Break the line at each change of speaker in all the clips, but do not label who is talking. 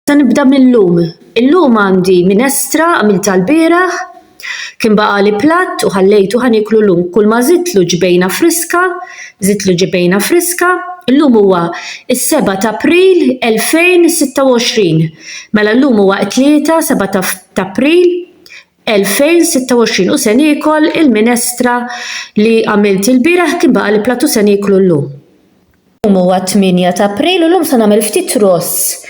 Se nibda mil-lum. Il-lum għandi minestra għamiltha l-bieraħ. Kien baqagħli platt u ħallejtu ħa nieklu llum, kulma żidtlu ġbejna friska, żidtlu ġebejna friska. Illum huwa s-seba' t'April 2026. Mela llum huwa t-Tlieta, seba' t'April 2026 u se niekol il-minestra li għamilt ilbieraħ, kien baqagħli platt u se nieklu llum. Illum huwa t-tmienja ta' April u llum se nagħmel ftit ross.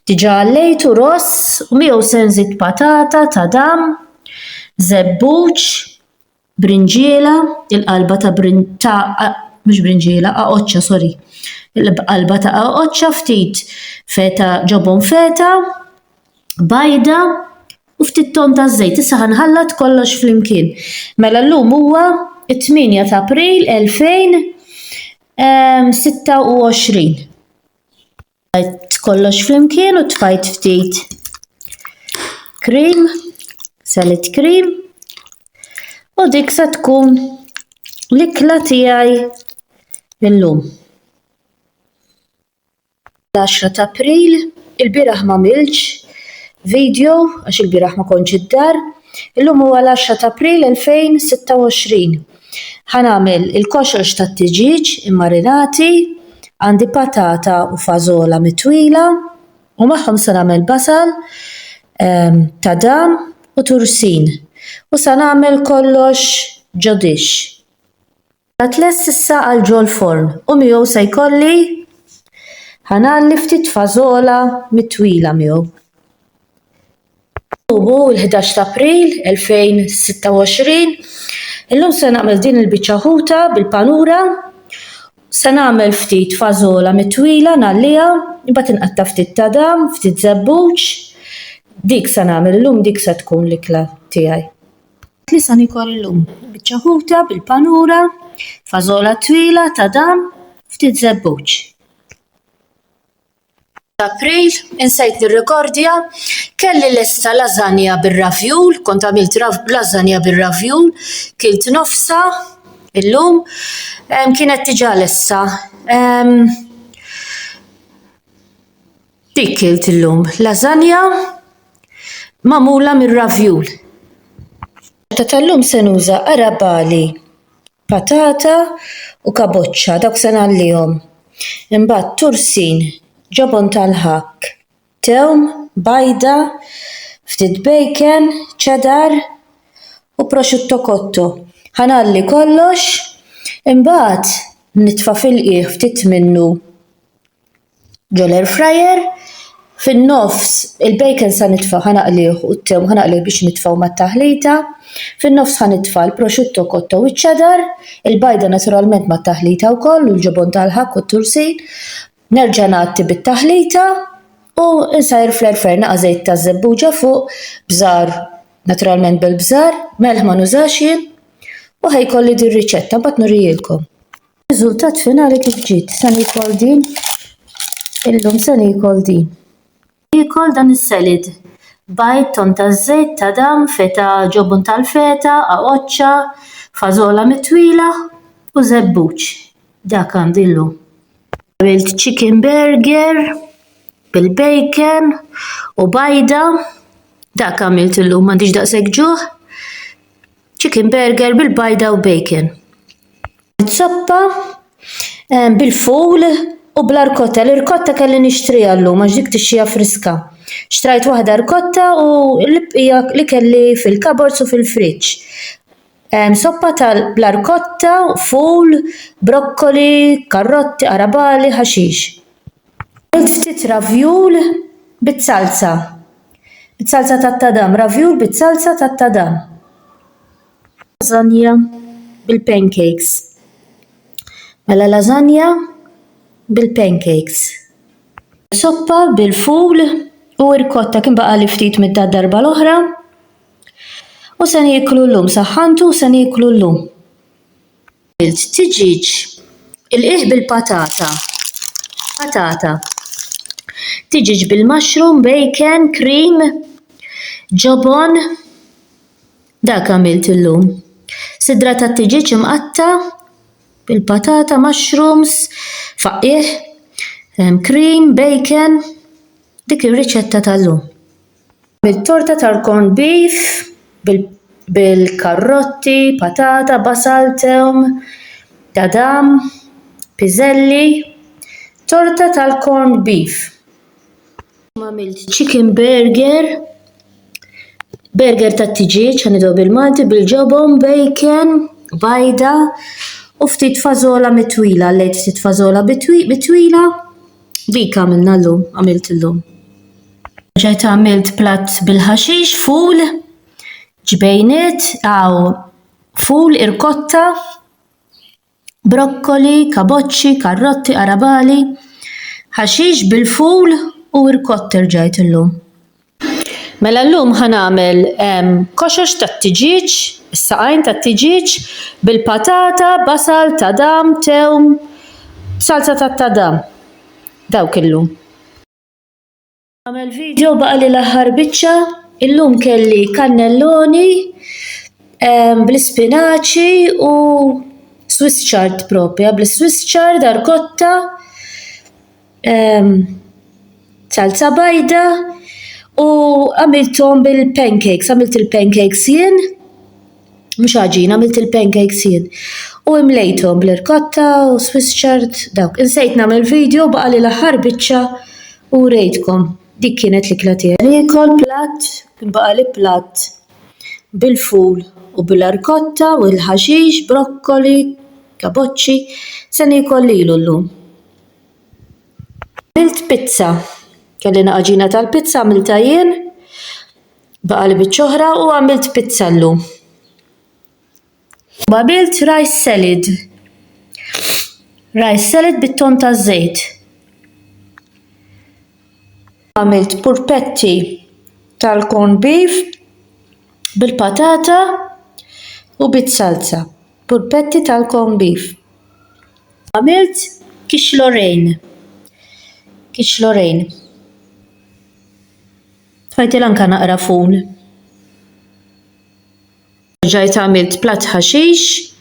Diġà għallejtu ross u miegħu se nżid patata, tadam, żebbuġ, brinġiela, il-qalba ta' ta' mhux brinġiela, aqoċċa sorry. Il-qalba ta' aqoċċa, ftit feta ġobon feta, bajda u ftit ton ta' żejt. Issa ħanħallat kollox flimkien. Mela llum huwa t-tmienja ta' April 2000 26. Għajt kollox flimkien u tfajt ftit krim, salit krim, u dik sa tkun l-ikla tiegħi illum. l-għaxra t'April, ilbieraħ m'għamiltx video għax ilbieraħ ma kontx id-dar, illum huwa l-għaxra t'April 2026. Ħa nagħmel il-koxox tat-tiġieġ immarinati, għandi patata u fażola mitwila u magħhom se nagħmel basal, tadam u tursin u sa nagħmel kollox ġo dixx. Qiegħed lest issa għal ġol-forn u miegħu se jkolli ħanalli ftit fażola mit-twila miegħu. Ħubu l-ħdax ta' April 2026. Illum se nagħmel din il-biċċa ħuta bil-panura. Se nagħmel ftit fażola mit-twila nagħlliha, imbagħad inqatta' ftit ta' dam, ftit żebbuġ. Dik se nagħmel illum dik se tkun l-ikla tiegħi. Tlisan ikor illum. Biċċa ħuta bil-panura, fażola twila ta' dam, ftit żebbuġ. April, insejt nirrekordja, kelli lesta lażanja bir-ravjul, kont għamilt lażanja bir-ravjul, kilt nofsa illum, kienet diġà lesta. Dik kilt illum lażanja magħmula mir-ravjul. Ta' tal-lum se nuża arabali, patata u kaboċċa, dawk se ngħallihom. Imbagħad tursin, ġobon tal-ħakk, tewm, bajda, ftit bacon, cheddar u prosciutto cotto. Ħa ngħalli kollox, imbagħad nitfa' fil-qiegħ ftit minnu. ġol air fryer, fin-nofs il-bacon se nitfa' ħa naqlih u t-town ħa naqlih biex nitfgħu mat-taħlita, fin-nofs ħa nitfa' l-prosciutto cotto u ċ-cheddar, il-bajda naturalment mat-taħlita wkoll u l-ġobon tal-ħakk u t-tursin, nerġa' ngħatti bit-taħlita u nsajjar fl-air fryer naqa' żejt ta' żebbuġa fuq, bżar, naturalment bil-bżar, melħ ma nużax jien u ħa jkolli din riċetta, mbagħad nurihielkom. Riżultat finali kif ġiet, se nikol din, illum se nikol din. Nikol dan is-selid. Bajd ton ta' żejt ta' dam, feta, ġobon tal-feta, għaqoċċa, fażola mitwila u żebbuġ. Dak għandi llum. Għamilt chicken burger bil-bacon u bajda. Dak għamilt illum, m'għandix daqshekk ġuħ. Chicken burger bil-bajda u bacon. Zoppa eh, bil-ful u bl-arkotta. L-irkotta kelli nixtriha llum għax dik tixxija friska. Xtrajt waħda rkotta u l-bqija li kelli fil-kabords u fil-friġġ. Em, Soppa tal-arkotta, ful, brokkoli, karrotti, arabali, ħaxix. Għamilt ftit ravjul bit-salsa. Bit-salsa tat-tadam, ravjul bit-salsa tat-tadam. Lasagna bil-pancakes. Mela lasagna bil-pancakes. Soppa bil-ful u irkotta kien baqa' li ftit mid-darba l-oħra. U se nieklu llum, saħħantu u se nieklu llum. għamilt tiġieġ il-qiegħ bil-patata, patata, tiġieġ bil-mushroom, bacon, cream, ġobon, dak għamilt illum. Sidra tat-tiġieġ imqatta' bil-patata, mushrooms, faqqigħ, cream, bacon, dik ir-riċetta tal-lum. Nagħmel torta tal-corned beef bil-karrotti, patata, basal, tewm, tadam, piżelli. Torta tal-corned beef. Illum għamilt chicken burger, burger tat-tiġieġ għan nidgħu bil-Malti bil-ġobon, bacon, bajda u ftit fażola mitwila, għallejt ftit fażola mitwila. Dik għamilna llum, għamilt illum. Ġejt għamilt platt bil-ħaxix, ful, ġbejniet, hawn ful, irkotta, brokkoli, kaboċċi, karrotti, qarabagħli, ħaxix bil-ful u rkotta rġajt illum. Mela llum ħa nagħmel koxox tat-tiġieġ, is-saqajn tat-tiġieġ, bil-patata, basal, tadam, tewm, b'salza tat-tadam. Dawk illum. Nagħmel video baqali l-aħħar biċċa. Illum kelli kannelloni bl-ispinaċi u swiss chard propja, bl-swiss chard, arkotta. ehm, salza bajda u għamilthom bil-pancakes, għamilt il-pancakes jien, mhux għaġin, għamilt il-pancakes jien. U imlejthom bl-irkotta u Swiss chard dawk. Insejt nagħmel video baqa' li l-aħħar biċċa u rejtkom. Dik kienet l-ikla tiegħi. Nikol platt, kien baqa' li platt bil-ful u bil-arkotta u l-ħaxix, brokkoli, kaboċċi, se nikol lilu llum. Għamilt pizza. Kellina għaġina tal-pizza għamiltha jien, baqgħali biċċa oħra u għamilt pizza llum. U għamilt rice salad. Rice salad bit-tonn taż-żejt. Għamilt purpetti tal-corn beef bil-patata u bit-salsa. Purpetti tal-corn beef. Għamilt kixlorejn. Kixlorejn. Tfajtil anka naqra ful. Ġajt għamilt platt ħaxix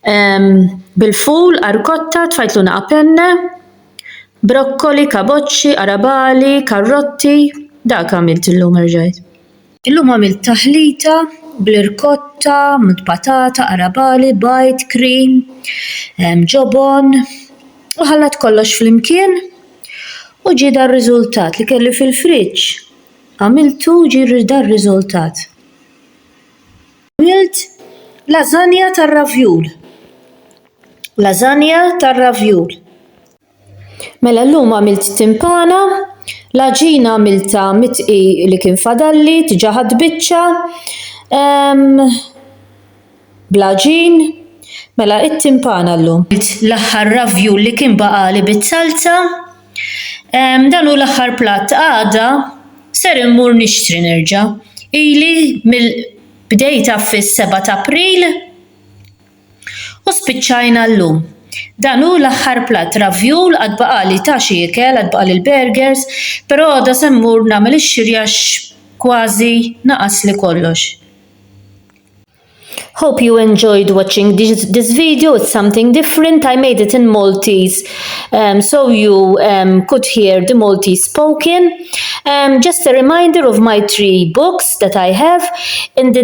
ehm, bil-ful, arkotta, tfajtlu naqa penne, brokkoli, kaboċċi, arabali, karrotti, dak għamilt illum erġajt. Illum għamilt taħlita bl-irkotta, patata, qarabagħli, bajd, cream, ġobon u ħallat kollox flimkien u ġie dar-riżultat li kelli fil-friġġ. Għamiltu u ġie dar-riżultat. Għamilt lażanja tar-ravjul. Lażanja tar-ravjul. Mela llum għamilt timpana, l-għaġina għamiltha mit-dqi li kien fadalli, diġa' ħadt biċċa bl-għaġin, mela it-timpana llum. Għamilt l-aħħar ravjul li kien baqagħli biz-zalza, dan hu l-aħħar platt għada ser immur nixtri nerġa', ili mill-, bdejtha fis-seba' t'April. U spiċċajna llum. Dan hu l-aħħar platt ravjul, għad baqgħali ta' xi ikel, għad baqgħali l-burgers, però għada se mmur nagħmel ix-xiri għax kważi naqasli kollox. Hope you enjoyed watching this video, it's something different, I made it in Maltese um, so you um, could hear the Maltese spoken. Um, just a reminder of my three books that I have in the